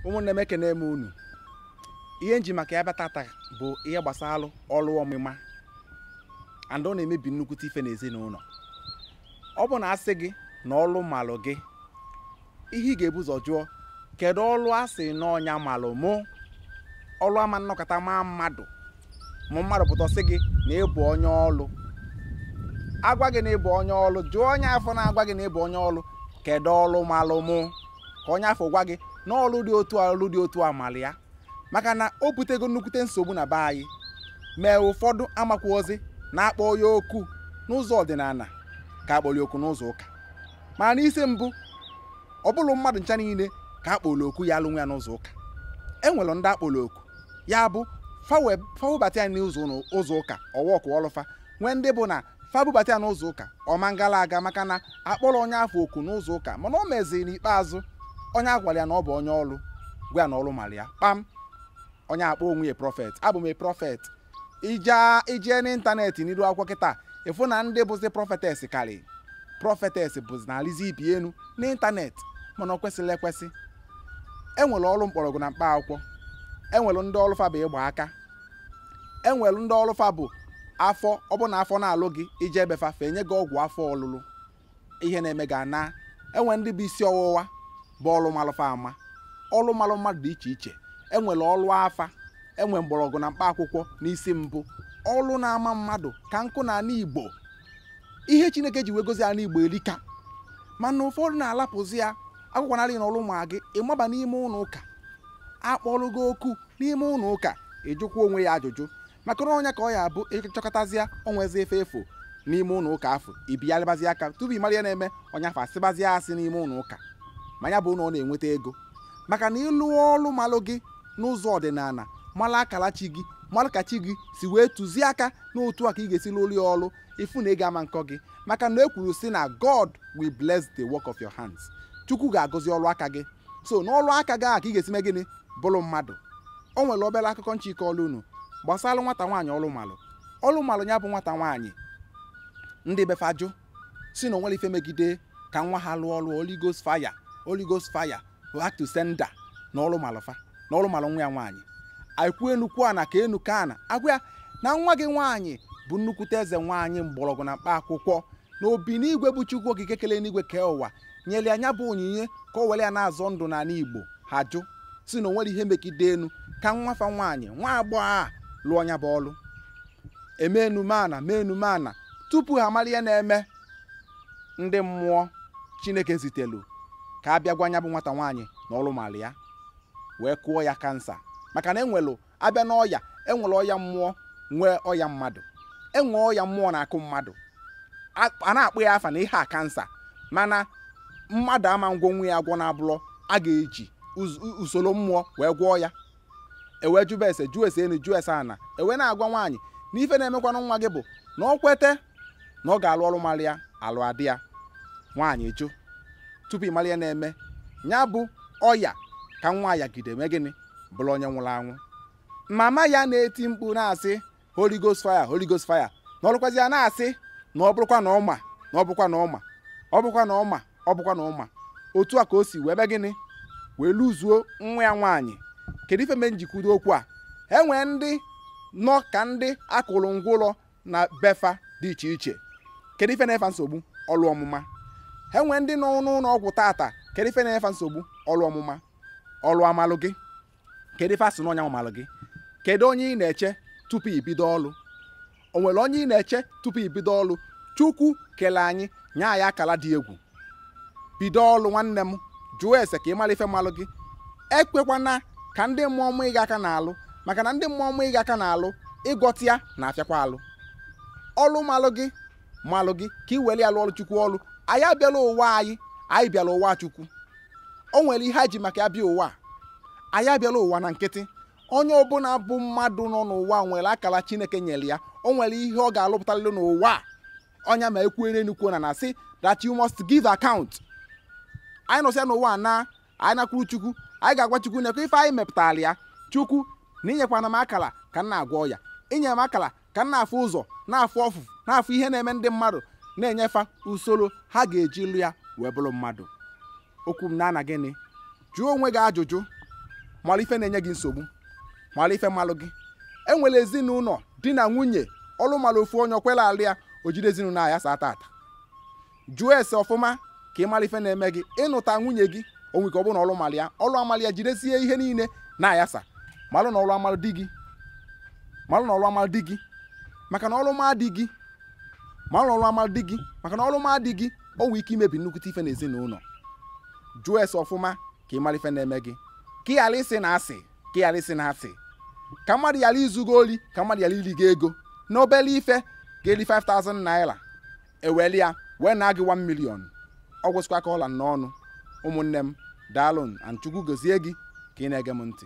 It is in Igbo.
ụmụnne m ekene m unu ihe m ji maka ya bịa tata bụ ihe gbasara ọrụ ọmụma and ọ na-emebi nnukwute ife n'ezinụlọ ọ bụ na a sị gị na ọrụ malụ gị ihe ị ga-ebu ụzọ jụọ kedu ọrụ a sị na ọ nya malụ mụ ọrụ ama nọkata maa mmadụ ma mmadụ pụta sị gị na ị bụ onye ọlụ a gwa gị na ị bụ onye ọlụ jụọ onye afụ na-agwa gị na ị bụ onye ọlụ kedu ọlụ malụ mụ ka onye afụ gwa gị na ọlụ dị otu a ọlụ dị otu a malụ ya maka na o butego nnukwute nsogbu na be anyị mee ụfọdụ amakwọzi na a kpọ ya oku n'ụzọ ọdịnala ka akpọli oku n'ụzọ ụka mana n'isi mbụ ọ bụrọ mmadụ ncha niile ka akpọli oku ya alụ nwa ya n'ụzọ ụka e nwere ndị akpọli oku ya bụ fa bubata ya n'ụzọ ụka ọ workụọlụ fa nwee ndị bụ na fa bubata ya n'ụzọ ụka ọ ma ngala aga maka na akpọrọ onye afụ oku n'ụzọ ụka mana o meziri n'ikpeazụ onye agwara ya na ọ bụ onye ọrụ gwa ya na ọrụ mara ya kpam onye akpọ onwe ya prọfet abụ m prọfet i jee n'ịntanetị n'iru akwụkwọ kịta ị fụ na ndị bụzi prọfetes karị prọfetes bụzi na-alịzi ibe enu n'ịntanetị mana o kwesirọ ekwesi e nwere ọrụ mkpọrọgwụ na mkpa akwụkwọ e nwere ndị ọrụ fa bụ ịgba aka e nwere ndị ọrụ fa bụ afọ ọ bụ na afọ na-alụ gị i jee be fa fa enye gị ọgwụ afọ ọlụlụ ihe na-eme gị anaa e nwe ndị bụ isi ọwụwa bụ ọlụ malụ fa ama ọlụ malụ mmadụ dị iche iche e nwere ọlụ afa e nwe mgbọrọgwụ na mkpa akwụkwọ n'isi mbụ ọlụ na-ama mmadụ ka nkụ na ala igbo ihe chineke ji wee gọzie ala igbo erika mana ụfọdụ na-alapụzi ya akwụkwọ narị na ọlụ ma gị ị maba n'ime ụlọ ụka akpọrọ gị oku n'ime ụlọ ụka ị jụkwa onwe ya ajụjụ maka na ọ nya ka ọ ya-abụ ị chọkatazịa o nwezi ife ị fụ n'ime ụlọ ụka afụ ibiyalịbazi aka tupu ị mara ihe na-eme onye afụ asịbazi asị n'ime ụlọ ụka ma nya bụ na ọ na-enweta ego maka na ịlụ ọrụ malụ gị n'ụzọ ọdịnala mara akara chi gị mara ka chi gị si wee tụzie aka na otu a ka ị ga-esi lụrụ ya ọrụ ị fụ na ị ga-ama nkọ gị maka na e kwuru sị na God will bless the work of your hands chukwu ga-agọzi ọrụ aka gị so n'ọrụ aka gị ahụ ka ị ga-esi mee gịnị bụrụ mmadụ o nwere obere akụkọ m chọ ịkọrọ unu gbasara nwata nwaanyị ọrụ malụ ọrụ malụ nya bụ nwata nwaanyị ndị be fa ajụ sị na o nwerọ ife megide ka nwa ha lụọ ọrụ Holy Ghost fire Holy Ghost fire back to sender na ọrụ malụ fa na ọrụ malụ nwa ya nwaanyị e kwuo enu kwuo ana kaa enu kaa ana a gwa ya na nwa gị nwaanyị bụ nnukwute eze nwaanyị mgbọrọgwụ na mkpa akwụkwọ na obi n'igwe bụ chukwu okike kele enigwe kee ụwa nyere ya nya bụ onyinye ka o were ya na-azọ ndụ n'ala igbo ha jụ sị na o nwerọ ihe megide enu ka nwa fa nwaanyị nwa agbọghọ a lụọ nya bụ ọrụ e mee enu mee ana mee enu mee ana tupu ha mara ihe na-eme ndị mmụọ chineke zitelu ka a bịa gwa nya bụ nwata nwaanyị na ọrụ mara ya wee kụọ ya kansa maka na enwelụ a bịa n'ọya enwere ọya mmụọ nwee ọya mmadụ enwe ọya mmụọ na-akụ mmadụ a na-akpọ ya afa na ihe a kansa mana mmadụ ama ngwọnwu ya agwọ na abụrọ a ga-eji usoro mmụọ wee gwọọ ya ewee jụba ese jụọ ese enu jụọ ese ana ewee na-agwa nwaanyị na ife na-emekwanụ nwa gị bụ na ọ kwete na ọ ga-alụ ọrụ mara ya alụ adị ya nwaanyị jụ tupu ị mara ihe na-eme nya bụ ọya ka nwa ya gide mee gịnị bụrụ onye nwụrụ anwụ mama ya na-eti mkpu na-asị Holy Ghost fire Holy Ghost fire na ọlụkwazi ya na-asị na ọ bụrụkwa na ọma na ọ bụrụkwa na ọma ọ bụrụkwa na ọma ọ bụrụkwa na ọma otu a ka o si wee bịa gịnị wee lụzuo nwa ya nwaanyị kedu ife mee njikwudo okwu a e nwee ndị nọ ka ndị akụrụ ngwa ụlọ na befa dị iche iche kedu ife na-efa nsogbu ọlụ ọmụma e nwee ndị nọ n'ụlọ ọgwụ tata kedu ife na-efa nsogbu ọlụ ọmụma ọlụ amalụ gị kedu ife a sị na ọ nya malụ gị kedu onye ị na-eche tupu ibido ọlụ o nwere onye ị na-eche tupu ibido ọlụ chukwu kele anyị nye anyị akala dị egwu bido ọlụ nwanne m jụọ ese ka ị mara ife malụ gị ekwekwana ka ndị mmụọ ma gị aka n'alụ maka na ndị mmụọ ma gị aka n'alụ ịgwọta ya na-afịakwa alụ ọlụ malụ gị malụ gị ka ị were ya lụọ chukwu ọrụ anyị abịarọ ụwa anyị anyị bịalụ ụwa chukwu o nwere ihe a ji maka ya bịa ụwa anyị abịarọ ụwa na nkịtị onye ọbụla bụ mmadụ nọ n'ụwa nwere akara chineke nyere ya o nwere ihe ọ ga-alụpụtalụ n'ụwa ọ nya ma ekwuere enukwu na na-asị that you must give account anyị nọsịa n'ụwa na anyị nakwuru chukwu anyị ga-agwa chukwu nekwa ife anyị mepụtara ya chukwu na i nyekwana m akara ka m na-agwọ ọya i nye m akara ka m na-afụ ụzọ na-afụ ọfụfụ na-afụ ihe na-eme ndị mmadụ na-enye fa usoro ha ga-eji lụọ ya wee bụrụ mmadụ okwu m na-ana gịnị jụọ onwe gị ajụjụ malụ ife na-enye gị nsogbu malụ ife malụ gị enwere ezinụlọ di na nwunye ọlụ mara ofu onye o kwerọ alụ ya o jide ezinụlọ a yasaa tata jụọ ese ọfụma ka ị mara ife na-eme gị ị nụta nwunye gị o nwee ike ọ bụrụ na ọlụ mara ya ọlụ a mara ya jidezie ihe niile na-ayasa malụ na ọlụ amara di gị malụ na ọlụ amara di gị maka na ọlụ ma di gị malụ na ọlụ amara di gị maka na ọlụ ma di gị o nwee ike imebi nnukwute ife n'ezinụlọ jụọ ese ọfụma ka ị mara ife na-eme gị ka ị ghara ịsị na asị ka ị ghara ịsị na asị ka mmadụ ghara izu gị ori ka mmadụ ghara iri gị ego n'obere ife ga-eri 5000 naira e welu ya wee naa gị 1 million ọ gwụsịkwa ka ọ ra m n'ọnụ ụmụnne m daalụnụ and chukwu gozie gị ka ị na-ege m ntị